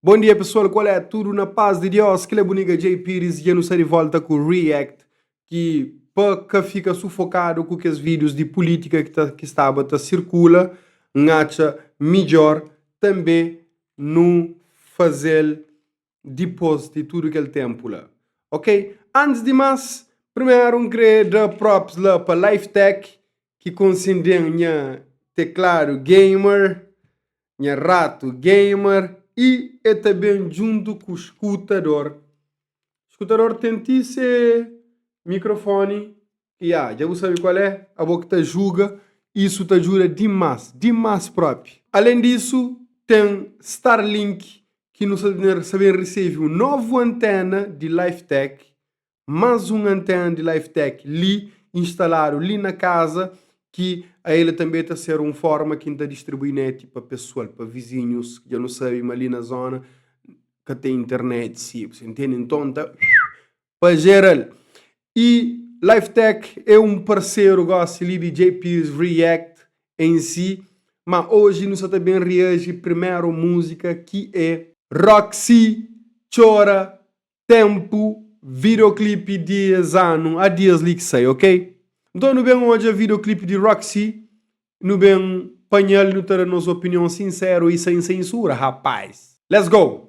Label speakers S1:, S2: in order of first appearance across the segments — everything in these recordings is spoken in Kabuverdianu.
S1: Bom dia pessoal, qual é? Tudo na paz de Deus? Kila buniga Jay Pires dja nu sa de volta ku react ki pa ka fika sufokado ku kes videos di politika ki ta ki staba ta circula n'atxa midjor tanbe nu fazel dipos di tudu kel ténpu la ok. Antis di más primeru N krê da props la pa Lifetec ki konsendi-m nha tekladu gamer, nha ratu gamer y e ta ben djuntu ku skutador. Skutador ten ti se mikrofoni Ya, dja bu sabe kual é? Abo ki ta julga, isu ta djuda dimás, dimás própi! Alén disu, ten Starlink ki nu sta ben resebe un novu anténa di Lifetec, más un anténa di Lifetec li, instaladu li na kaza, ki el tanbê ta ser un fórma ki N ta distribui neti pa pesoal, pa vizinhus, dja nu sabe ma li na zóna ka ten internet, si bu ta intende. Nton, N ta. pa jera-l. Y Lifetech é un parceru gosi li di JP's React em si, ma hoje nu sa ta bem reaji primeru musica ki é. Roxy Txora Tempu videoclip di es anu, a dias li ki sai ok. Nton nu bem odja videoclip di Roxy, nu bem panha-l y nu ta da nos opinion sinseru y sem sensura rapaz. Let's go!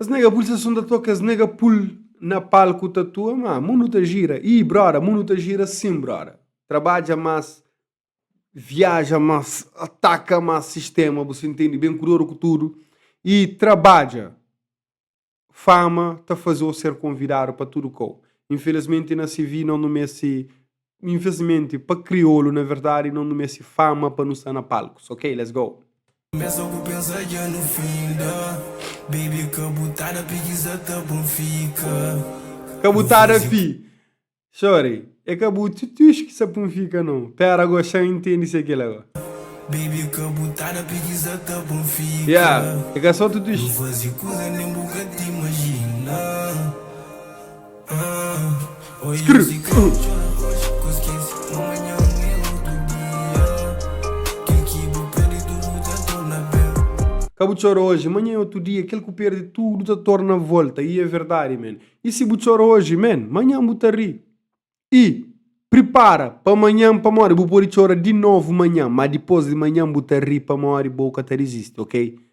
S1: Es nega pul seson ta toka es nega pul na palku ta tua ma mundu ta gira ih broda mundu ta gira sim broda trabadja mas viaja mas ataka mas sistema bu si ntende ben kudodu ku tudu ih trabadja fama ta faze-u ser konvidadu pa tudu kau infelizmenti na sivi no nu meste Infelizmenti pa kriolu na verdadi no nu meste fama pa nu sta na palku so ok let's go. Kumesa ku pensa dja nu finda baby kabutada preguiza ta pon fika. Kabutada fi, sorry é ka bu tutush ki sa pun fika no pera go xa intendi se kila go. Baby kabutada preguiza ta pon fika. Yeah é ka so tutush. Nu fazi kuza nen bu ka ta imajina. Ka bu txora oji, manha é otu dia Kel ku perde tudu ta torna volta Y é verdadi men Y si bu txora oji men, manhan bu ta ri Y pripara pa manhan pamodi bu pode txora di novu manhan Má dipôs di manhan bu ta ri pamodi bo ka ta dizisti ok.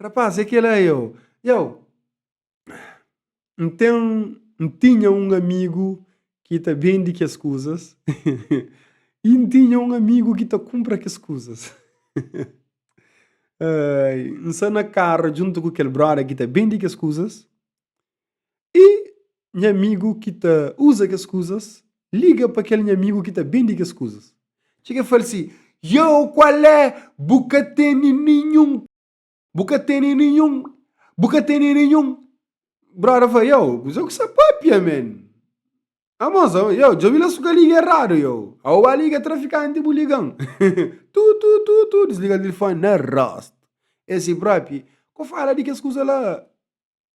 S1: Rapaz, é kel-la eu. Eu. N ten. N tinha un amigu ki ta bende kes kuzas i N tinha un amigu ki ta kunpra kes kuzas. N sta na karu djuntu ku kel bróda ki ta bende kes kuzas. Y nha amigu ki ta uza kes kuzas liga pa kel nha amigu ki ta bende kes kuzas. Txeka y fla-l si, Yow, kual é? Bu ka tene ninhun. Bu ka tene ninhun. Bu ka tene ninhun. Brother fla, Yow, kuzê ku se pâpia, man? A moza, Yow, djobe la si bu ka liga eradu, yow. A bu ba liga trafikanti, bu liga-m. Tu, tu, tu, tu, disliga telefoni na rostu. El si, Bropi, ko fala di kes kuza la.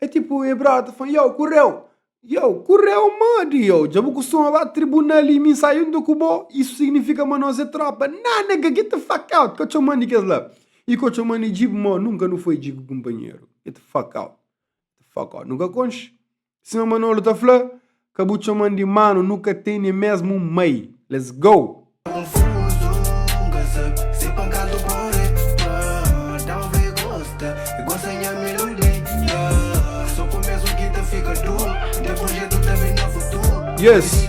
S1: É tipu e brota fala, yo, kurreu! Yo, kurreu modi, yo? Dja bu kustuma ba tribunal y mi sai yuntu ku bo? Isu signifika ma nos é tropa? Ná, nega, get the fuck out! Ka txoman di kes la. Y ka txoman di djigu, mô, nunka nu foi djigu kunpanheru. Get the fuck out! Get the fuck out! Nu ka konxe. Sima Manolo ta fla, Ka bu txoman di manu nu ka ten ne mesmu un mai let's go. Yes!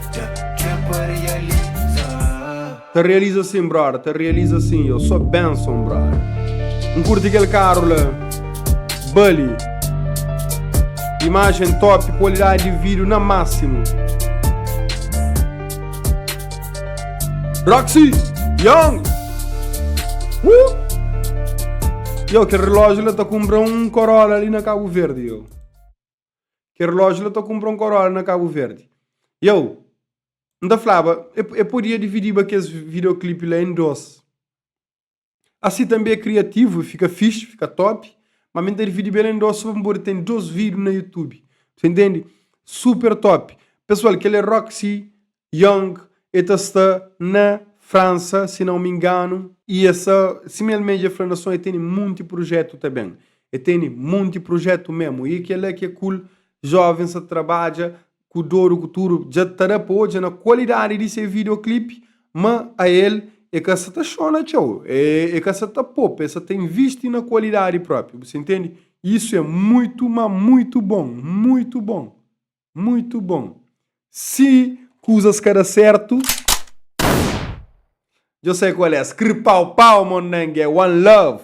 S1: Ta realiza sim brother, ta realiza sim Eu sou Benson brother N curti aquele carro lá Bully Imagem top, qualidade de vídeo na máximo Roxy Young uh! Eu que relógio lá tá comprar um Corolla ali na Cabo Verde eu Kel relójiu la ta kunpra un Corolla na Kabu Verdi. I au, N ta flaba, e podia dividiba kes videoclipe la en dos. Asi tanbe e kriativu, e fika fixi, fika top, ma mi N ta dividiba el en dos so pa mi podi ten dos video na YouTube. Bus intendi? Super top. Pesual, kel e Roxy Young e ta sta na Fransa si não me engano. E é sa, sima el mé dja fla na son, e teni munti prujetu ta ben. E teni munti prujetu memu. E kela ke kul jovens sa trabadja ku doru ku tudu. Dja ta da pa odja na kualidadi di se videoclip ma a el e ka sa ta xona txeu. E e ka sa ta popa, e sa ta invisti na kualidadi propi. Bu sa intendi? Isu é muitu, ma muitu bon. Muitu bon. Muito bom. Si coisas ka da certo, djo sai qual é, scripau pau mon nanga é one love.